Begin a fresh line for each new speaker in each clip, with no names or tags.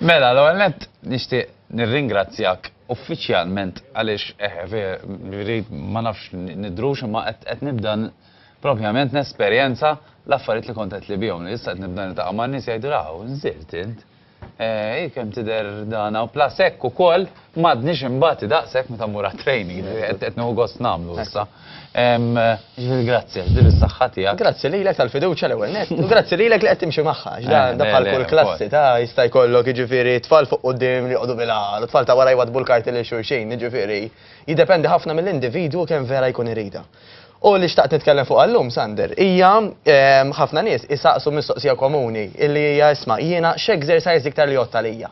Mela, l-ewwel nett nixtieq nirringrazzjak uffiċjalment għaliex eh, eh ma nafx nidrux imma qed nibda propjament nesperjenza l-affarijiet li kont qed li bihom li issa qed nibda niltaqa' ma' nies jgħidu raw, nżirt int. Eh, kemm tidher dana u plasek ukoll M'għadniex imbati daqshekk meta mmur għat-training, ġifieri qed nieħu gost nagħmlu issa. Ġifieri grazzi għax din is-saħħa tiegħek. Grazzi lilek tal-fiduċja l-ewwel nett, u grazzi lilek li qed timxi magħha, għax dan bħal kull klassi ta' jista' jkollok jiġifieri tfal fuq quddiem li joqogħdu bil-għar u tfal ta' wara jwaddbu l-karti lil xulxin, jiġifieri jiddependi ħafna mill-individwu kemm vera jkun iridha. U li xtaqt nitkellem fuqha llum, Sander, hija ħafna nies isaqsu mistoqsija komuni li hija isma' jiena x'exercise iktar li jgħodd għalija?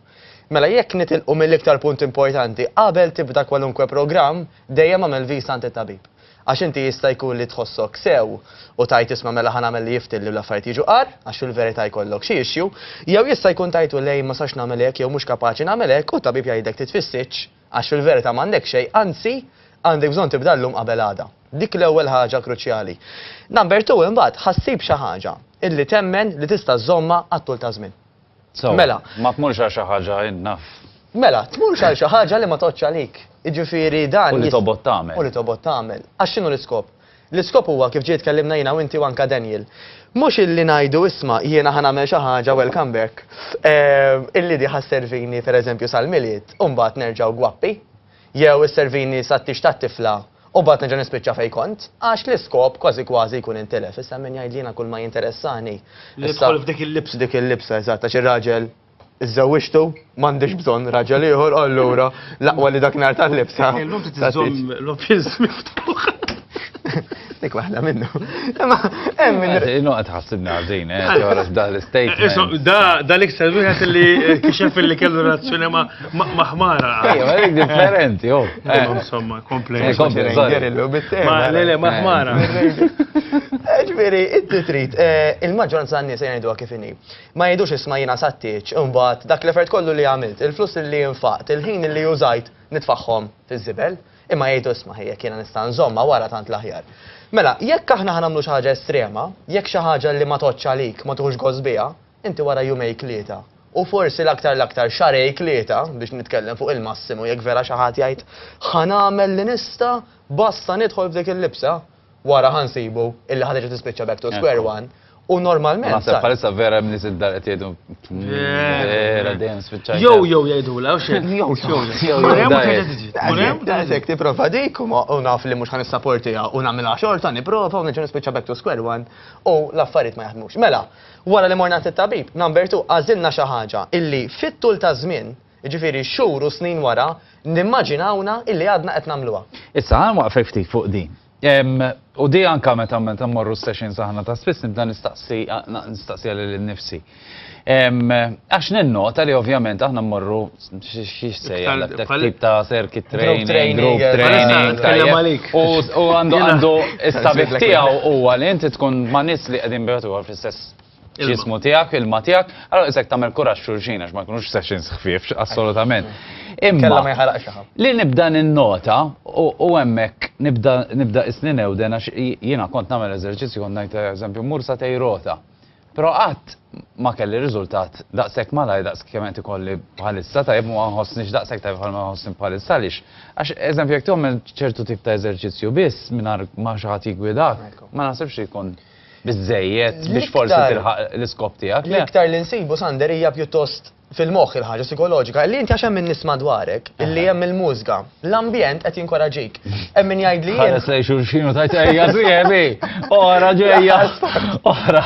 Mela jekk nitilqu mill-iktar punt importanti, qabel tibda kwalunkwe programm, dejjem agħmel viżta għand it-tabib. Għax inti jista' jkun li tħossok sew u tgħid isma' mela ħa nagħmel li jiftilli u l-affarijiet jiġu agħar, għax fil-verità jkollok xi issue, jew jista' jkun tgħidlu lejn ma sax nagħmel hekk jew mhux kapaċi nagħmel hekk u t-tabib jgħidlek titfissitx għax fil-verità m'għandek xejn, anzi għandek bżonn tibda llum qabel għada. Dik l-ewwel ħaġa kruċjali. Number two imbagħad ħa ssib xi ħaġa illi temmen li tista' żżommha għat-tul taż-żmien. So, mela. Ma tmurx għal xi ħaġa innaf. Mela, tmurx għal xi ħaġa li ma toqgħodx għalik. Jiġifieri dan. U li tobgħod tagħmel. U li tobgħod tagħmel. Għax x'inhu l-iskop? L-iskop huwa kif ġej tkellimna jiena u inti u anka Daniel. Mhux illi ngħidu isma' jiena ħa nagħmel xi ħaġa welcome back. Eh, illi di ħasservini pereżempju sal-milied u mbagħad nerġgħu gwappi. Jew isservini sat-tix tat-tifla u mbagħad nerġa' nispiċċa fejn kont? Għax l-iskop kważi kważi jkun intilef. Issa min jgħid li jiena kulma jinteressani. Li nidħol f'dik il-libsa. Dik il-libsa, eżatt, għax ir-raġel żżewwiġtu, m'għandix bżonn raġel ieħor u allura l-aqwa li dak nhar tal-libsa. Illum trid iżżomm l-office miftuħ. Dik waħda minnu. Ma, hemm minn. Eh, Innu qed ħassibna għażin, eh, toħroġ dan l-istate. Eh, da da l-iktar wieħed li eh, kixef li kellu relazzjoni ma' maħmara. Ejja, ma dik differenti, oh. Insomma, komplejn. Ma le le maħmara. Ġifieri, inti trid il-maġġoranza n-nies jgħidu kif inhi. Ma jgħidux isma' jiena sattiċ, imbagħad dak l-effert kollu li għamilt, il-flus li nfaqt, il-ħin li użajt nitfaħħom fiż-żibel. Imma jgħidu isma' ħi jekk jiena nista' nżommha wara tant l-aħjar. Mela, jekk aħna ħa nagħmlu xi ħaġa estrema, jekk xi ħaġa li ma tgħoddx għalik, ma tieħux gost biha, inti wara jumejk tlieta, u forsi l-aktar l-aktar xahrejk tlieta, biex nitkellem fuq il-massimu jekk vera xi ħadd jgħid ħa nagħmel li nista' basta nidħol f'dik il-libsa, wara ħa nsibu illi ħa terġa' tispiċċa back to square one U normalment. Naħseb bħalissa vera minn nies id-dar qed jgħidu. Vera dejjem spiċċaj. Jew jew jgħidula u xejn. Jew jew. Murem daqshekk tipprova dik u naf li mhux ħan issaportiha u nagħmilha xorta nipprova u niġu nispiċċa back to square one u l-affarijiet ma jaħdmux. Mela, wara li morna tit-tabib, number two għażilna xi ħaġa illi fit-tul ta' żmien Jiġifieri xhur u snin wara, nimmaġinawna illi għadna qed nagħmluha. Issa, ħa nwaqfek ftit fuq din. U di anke meta meta mmorru s-sessions aħna ta' spiss nibda nistaqsi nistaqsiha lili nnifsi. Għax ninnota li ovvjament aħna mmorru x'sejjaħ dak dak tip ta' circuit training, group training, tajjeb. Għalissa nitkellem għalik. U għandu għandu s-sabiħ tiegħu huwa li inti tkun ma' nies li qegħdin bejgħet u ieħor fl-istess ġismu tiegħek, ilma tiegħek, allora isek tagħmel kuraġġ xulxin għax ma jkunux sessions ħfief, assolutament. Imma ma jħaraqx Li nibda ninnota u hemmhekk nibda nibda isni newden għax jiena kont nagħmel eżerċizzju kont ngħid eżempju mur sa tej rota. Però qatt ma kelli riżultat daqshekk malaj daqs kemm qed ikolli bħalissa tajjeb ma nħossniex daqshekk tajjeb bħal ma nħossni bħalissa għaliex. Għax eżempju jekk tagħmel ċertu tip ta' eżerċizzju biss mingħajr ma xi ħadd jiggwidak, ma naħsibx ikun biżżejjed biex forsi tilħaq l-iskop tiegħek. Le. L-iktar li nsibu Sander hija pjuttost fil-moħħ il-ħaġa sikoloġika, li inti għax hemm min nisma' dwarek, illi hemm il-mużga, l-ambjent qed jinkoraġik. Hemm min jgħid li. Ħares lej xulxin u tajt ejja sieħbi, ora ġejja, ora.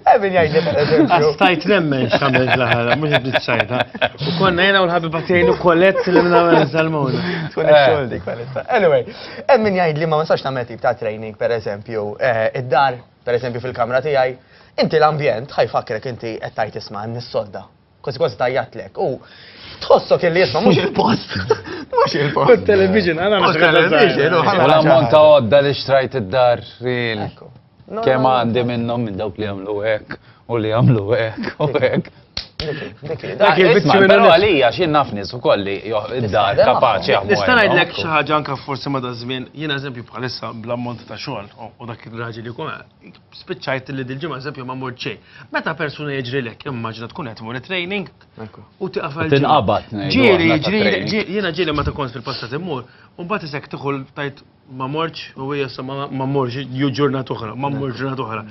Hemm min jgħid li. Stajt nemmen x'għamel l-aħħar, mhux qed nitxajta. U konna jiena u l-ħabib għatejn u kollett li minn għamel salmuna. Tkun ix-xogħol dik, Anyway. Hemm min jgħid li ma nistax nagħmel tip ta' training, pereżempju, eh, id-dar, pereżempju fil-kamra tiegħi, inti l-ambjent ħajfakrek inti qed tgħid isma' nissodda. Kważi kważi tajjatlek. U tħossok illi jisma' mhux il-post. Mhux il-post. Kont television, għana Mhux television, u ħana U l-ammont ta' għodda li xtrajt id-dar, ril. Ekku. Kemm għandi minnhom minn dawk li għamlu hekk u li għamlu hekk u hekk. Dak il-biċċi minn però għalija x'jien naf nies ukoll li id-dar kapaċi jaħdmu. Nista' ngħidlek xi ħaġa anke forsi ma' daż-żmien, jien eżempju bħalissa bl-ammont ta' xogħol u dak ir-raġel li jkun spiċċajt li dil-ġimgħa eżempju ma mort xejn. Meta persuna jiġrilek immaġina tkun qed mur training u tiqafel. Tinqabad. Ġieli, jiena ġieli meta kont fil-passat immur, u mbagħad isek tieħu tajt Ma mortx, u hija sa ma mortx, ju ġurnat oħra, ma mmur ġurnat oħra.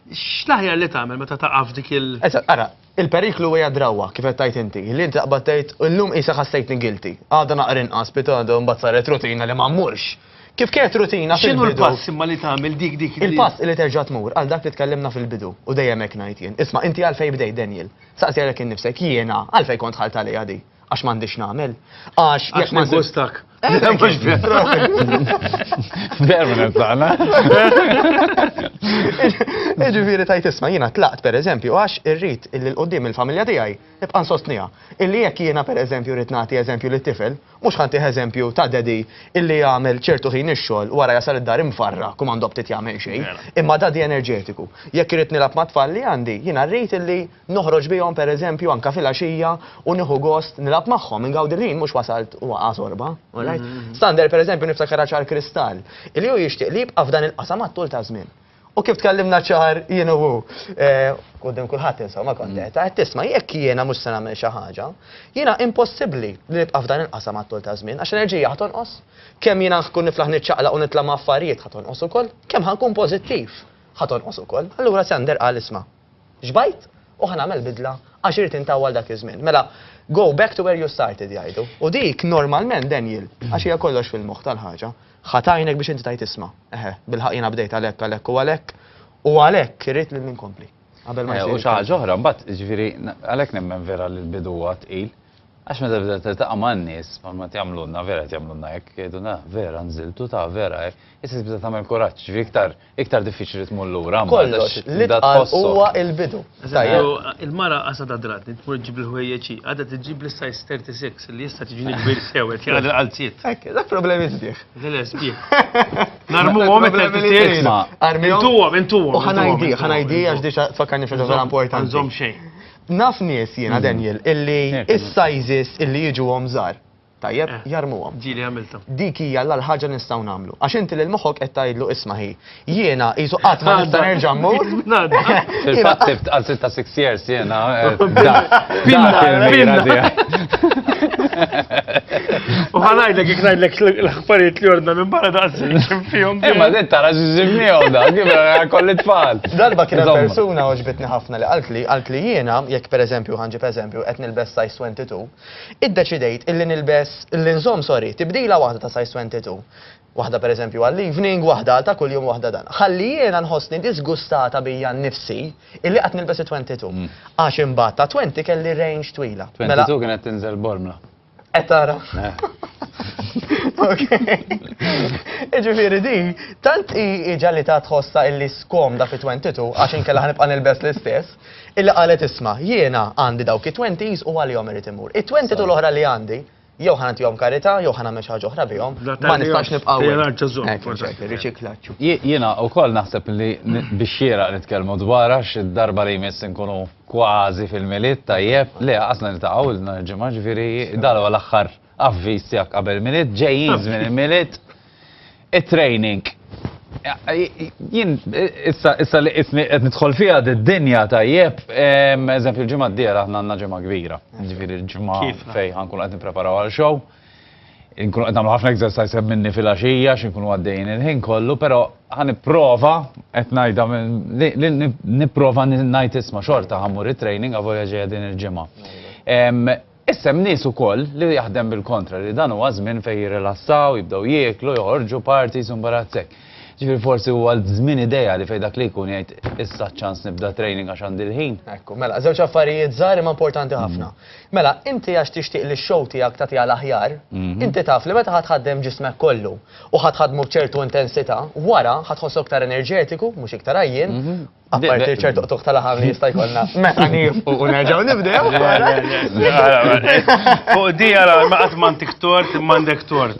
X'laħjar li tagħmel meta taqaf dik il. Eżatt, ara, il-periklu hija drawwa kif qed tgħid inti, li inti taqbad tgħid illum qisha ħassejtni guilty, għada naqra inqas, bit għada mbagħad saret rutina li ma mmurx. Kif kienet rutina fil-bidu. X'inhu l-pass imma li tagħmel dik dik. Il-pass li terġa' tmur għal dak li tkellimna fil-bidu u dejjem hekk ngħid jien. Isma' inti għalfejn bdejt Daniel. Saqsi għalek innifsek jiena għalfejn kont ħalt għalija di. Għax m'għandix nagħmel. Għax jekk ma gustak. Permanent tagħna. Ġifieri tajt isma' jiena tlaqt pereżempju għax irrid illi l qudiem il-familja tiegħi nibqa' nsostniha. Illi jekk jiena pereżempju rrid nagħti eżempju lit-tifel, mhux ħanti eżempju ta' dedi illi jagħmel ċertu ħin ix-xogħol wara jasal id-dar imfarra kum għandu btit jagħmel xejn. Mela. Imma dadi enerġetiku. Jekk irrid nilgħab mat-tfal li għandi, jiena rrid illi Noħroġ bihom, per eżempju, anke filgħaxija u nieħu gost nilgħab magħhom, ingawdi l-ħin mhux wasalt u waqa' sorba. Alright? Sander, per eżempju, niftakarha ċar kristall, illi hu jixtieq li jibqa' f'dan il-qasam għat-tul taż-żmien. U kif tkellimna ċar jien u hu, quddiem kulħadd insomma kont qed, għedt, tisma' jekk jiena mhux se nagħmel xi ħaġa, jiena impossibbli li nibqa' f'dan il-qasam għat-tul taż-żmien għax l-enerġija ħa tonqos. Kemm jiena nkun niflaħ niċċaqlaq u nitla' ma' affarijiet ħa tonqos ukoll, kemm ħa nkun pożittiv ħa tonqos ukoll. Allura Sander qal isma'. Xbajt u ħa nagħmel bidla għax irid intawwal dak iż-żmien. Mela, go back to where you started jgħidu. U dik normalment Daniel, għax hija kollox fil-moħħ tal-ħaġa, ħa tgħinek biex inti tgħid isma', eħe, bilħaqq jiena bdejt għalhekk, għalhekk u għalhekk, u għalhekk irrid li ninkompli. Qabel ma jsir. U xi ħaġa oħra mbagħad, jiġifieri għalhekk nemmen vera li l-bidu huwa tqil. Għax meta bda tiltaqa' man-nies, ma tjagħmlulna vera tjagħmlulna hekk, jgħidulna vera nżiltu ta' vera hekk, issa tibda tagħmel kuraġġ, ġifieri iktar Iktar diffiċli tmur lura mbagħad. Kollox, li tqal huwa l-bidu. Il-mara qasadha dratni, tmur ġġib il-ħwejjeġ hi, għadha tiġġib l-size 36 li jista' tiġini kbir sew qed jgħadha l-qalziet. Hekk, dak problemi sbieħ. Le, sbieħ. Narmuhom iktar titqies. Intuhom, intuhom. U ħanajdi, ħanajdi għax diġà tfakkarni fil vera importanti. Nżomm xejn. Naf nies jiena Daniel illi is-sizes illi jiġu hom żgħar. Tajjeb, jarmuhom. Ġieli għamiltha. Dik hija l-agħar ħaġa li nistgħu nagħmlu. Għax inti lil moħħok qed tgħidlu isma' ħi, jiena qisu qatt ma nista' nerġa' mmur. Fil-fatt sibt għal 6 years jiena. U ħanajdlek jekk ngħidlek l-aħbarijiet li ordna minn barra daqsxejn xim fihom. Imma din tara x'ġimmiehom da, kif kolli tfal. Darba kien persuna oġbitni ħafna li qaltli, qaltli jiena jekk pereżempju ħanġib eżempju qed nilbes size 22, Iddeċidejt illi nilbes, illi nżomm sorry, tibdila waħda ta' size 22. Waħda pereżempju għall-evening, waħda għal ta' kuljum u waħda dan. Ħalli jiena nħossni diżgustata bija nnifsi illi qatt nilbes it-22. Għax imbagħad ta' 20 kelli range twila. Mela 22 kienet tinżel bormla. Qed tara. Iġifieri di, tant hi ġalli ta' tħossha illi skomda fi 22 għax inkella ħanibqa' nilbes l-istess, Illi qalet isma', jiena għandi dawk it-twenties u għalihom irid immur. It-twenty tu l-oħra li għandi, jew ħa nagħtihom karità, jew ħa nagħmel xi ħaġa oħra bihom, ma nistax nibqa' Jiena wkoll naħseb li biex xieraq nitkellmu dwar għax id-darba li jmiss inkunu kważi fil-Milied tajjeb, le qasna niltaqgħu nhar il-Ġimgħa, ġifieri dan huwa l-aħħar avviż tiegħek qabel il-Milied, ġejjin żmien il-Milied, it-training. Jien issa li qisni qed nidħol fiha d-dinja tajjeb, eżempju l-ġimgħa d-dieħla aħna għandna ġimgħa kbira, ġifieri l-ġimgħa fejn ħankun qed nippreparaw għal show. Inkunu qed nagħmlu ħafna exercise minni fil-għaxija x'inkunu għaddejjin il-ħin kollu, però ħanipprova qed ngħidha nipprova ngħid isma' xorta ħammur it-training għavolja ġejja din il-ġimgħa. Issa hemm nies ukoll li jaħdem bil-kontra, li dan huwa żmien fejn jirrilassaw, jibdew jieklu, joħorġu, parties u mbarazz hekk. Ġifieri forsi huwa żmien ideali fejn dak li jkun jgħid issa ċ-ċans nibda training għax għandi l-ħin. Ekku, mela, żewġ affarijiet żgħar imma importanti ħafna. Mela, inti għax tixtieq li x-show tiegħek tagħtiha l-aħjar, inti taf li meta ħa tħaddem ġismek kollu u ħa tħaddmu b'ċertu intensità, wara ħa tħossok iktar enerġetiku, mhux iktar għajjien, Apparti ċertu qtuħ tal-ħam li jista' jkollna. Meta nifqu u nerġgħu nibdew. Fuq di għara ma qatt m'għandek tort m'għandek tort.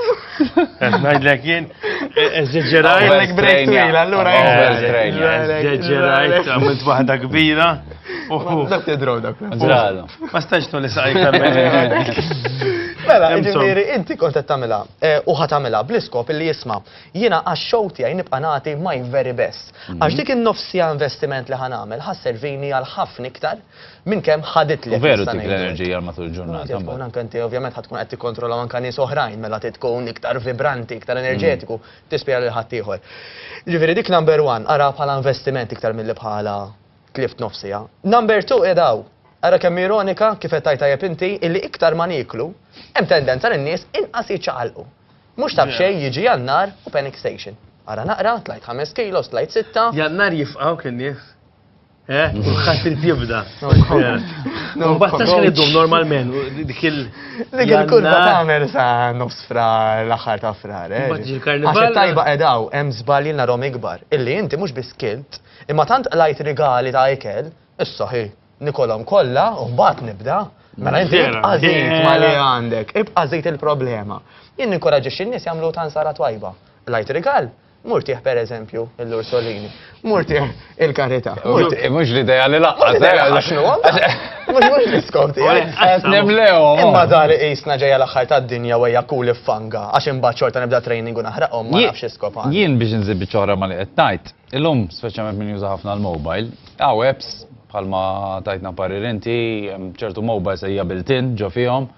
Ngħidlek jien eżġerajt. Għandek break twil allura. Eżġerajt għamilt waħda kbira. Dak tidrow dak. Ma stax tolli saqajk Mela, ġifieri inti kont qed tagħmilha eh, u ħatamilha bl-iskop li jisma' Jiena għax-show tiegħi nibqa' nagħti my very best. Għax dik in-nofs siegħa investiment li ħa nagħmel ħa sservini għal ħafna iktar minn kemm ħaditli. U veru ttik l-enerġija għal matul il-ġurnata. Tkun anke inti ovvjament ħa tkun qed tikkontrolla anke nies oħrajn mela trid tkun iktar vibranti, iktar enerġetiku, tispira lil ħaddieħor. Ġifieri dik number one, araha bħala investiment iktar milli bħala tlift nofs siegħa. Number two qiegħed hawn. Ara kemm ironika kif qed tgħid tajjeb inti illi iktar ma nieklu, hemm tendenza lin-nies inqas jiċċaqalqu. Mhux ta' b'xejn jiġi Jannar u panic station. Ara naqra, tlajt ħames kilos, tlajt sitta. Jannar jifqgħu kien nies. Eh, kulħadd irid jibda. Mbagħad tax kien iddum normalment dik il. Dik il-kurva tagħmel sa nofs fra l-aħħar ta' frar. Eh. Mbagħad il-karnival. Għax tajba qedaw hemm żbalji narhom ikbar. Illi inti mhux biss kilt, imma tant qlajt rigali ta' ikel, issa ħi. Nikolhom kollha u mbagħad nibda. Mela inti ibqa' żejt ma li għandek, ibqa' żejt il-problema. Jien ninkoraġġixxi n-nies jagħmlu tansara twajba. Lajt rigal, murtieħ per eżempju l-Ursolini, murtieħ il-karità. Mhux l-idea li laqqas. Mhux mhux diskoti. Imma dar isna ġejja l-aħħar tad-dinja u hija kul fanga għax imbagħad xorta nibda training u naħraqhom ma nafx iskop. Jien biex nżib biċċa ma li qed tajt. Illum, speċjalment min juża ħafna l-mobile, hawn apps bħalma tajtna parir inti, hemm ċertu mobiles hija built-in ġo fihom,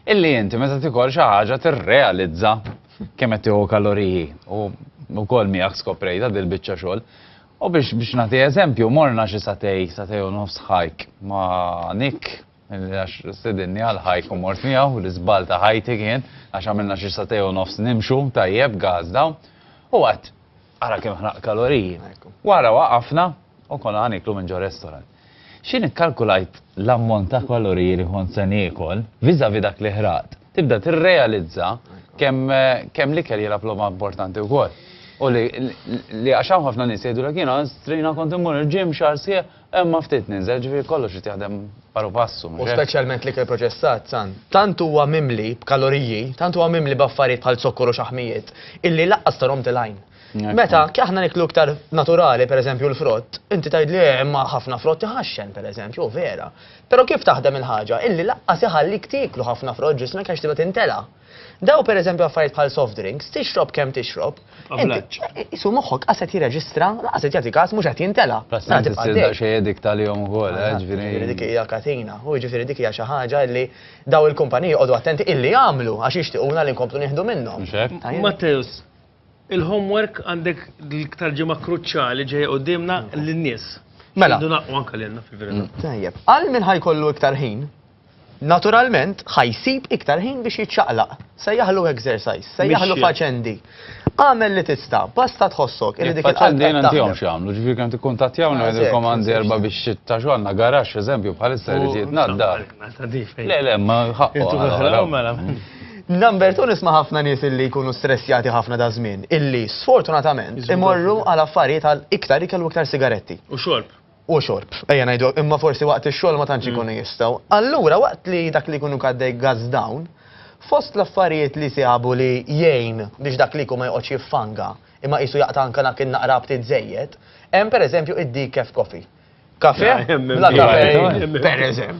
illi inti meta tikol xi ħaġa tirrealizza kemm qed tieħu kaloriji u wkoll miegħek skoprejta dil-biċċa xogħol. U biex biex nagħti eżempju, morna xi satej, satej u nofs ħajk ma' Nick, għax sidinni għal ħajk u mort miegħu, l-iżbal ta' ħajti kien, għax għamilna xi satej u nofs nimxu tajjeb gazda, u għat Ara kemm ħraqt kaloriji. Wara waqafna u konna ħaniklu minn ġo restaurant. X'in ikkalkulajt l-ammont ta' kaloriji li kont se niekol vis-à-vis dak li ħraqt, tibda tirrealizza kemm l-ikel jilgħab logħba importanti wkoll. U li għax hawn ħafna nies jgħidulek jiena strina kont immur il-gym xahar sħiħ Imma ftit ninżel, ġifieri kollox irid jaħdem paru passu, mhux hekk? U speċjalment l-ikel proċessat, San. Tant huwa mimli b'kaloriji, tant huwa mimli b'affarijiet bħal zokkor u xaħmijiet, illi lanqas tarahom til-għajn. Meta, aħna niklu iktar naturali, per eżempju l-frott, inti tgħidli eh, imma ħafna frott iħaxxen, per eżempju, u vera. Però kif taħdem il-ħaġa, illi lanqas iħallik tieklu ħafna frott ġismek għax tibda tintela'. Daw pereżempju affarijiet bħal soft drinks, tixrob kemm tixrob. Ablaċċ. Isu moħħok qas qed jirreġistra, qas qed jagħti każ mhux qed jintela. Plastik tibqa' dejjem. Xejn edik tal-jom ukoll, eh, ġifieri. Dik hija katina. U ġifieri dik hija xi ħaġa li daw il-kumpaniji jqogħdu attenti illi jagħmlu għax jixtiequna li nkomplu nieħdu minnhom. Mhux hekk? Matteus, il-homework għandek tal-ġimgħa kruċjali ġejja quddiemna lin-nies. Mela. Idu naqgħu anke lilna fil-verità. Tajjeb. Għal min ħajkollu iktar ħin, Naturalment, ħa jsib iktar ħin biex jiċċaqlaq. Sejjaħlu exercise, sejjaħlu Mixja. faċendi. Agħmel li tista', basta tħossok illi dik il-qalb Faċċendi qed jien taħdem. għandihom x'jagħmlu, ġifieri kemm tikkuntattjawna Ah, ngħidilkom eżatt, għandi eżatt. erba' biex ta' xogħol għandna garaxx eżempju bħalissa jrid jitnaddar. Le, le, ma ħaqqu. Intu għala, għala. għala, mela. Number two nisma' ħafna nies illi jkunu stressjati ħafna da' żmien, illi sfortunatament Jiżbudu. imorru għal affarijiet għal iktar ikel u iktar sigaretti. U xorb. u xorb, ejja ngħidu, imma forsi waqt ix-xogħol ma tantx ikunu jistgħu. Allura waqt li dak li jkun hu għaddej gas down, fost l-affarijiet li sabu li jgħin biex dak l-iku ma joqgħodx jiffanga, imma qisu jaqta' anke dak in-naqra ftit żejjed, hemm pereżempju id-decaf coffee. Kafè bla kafein, pereżempju.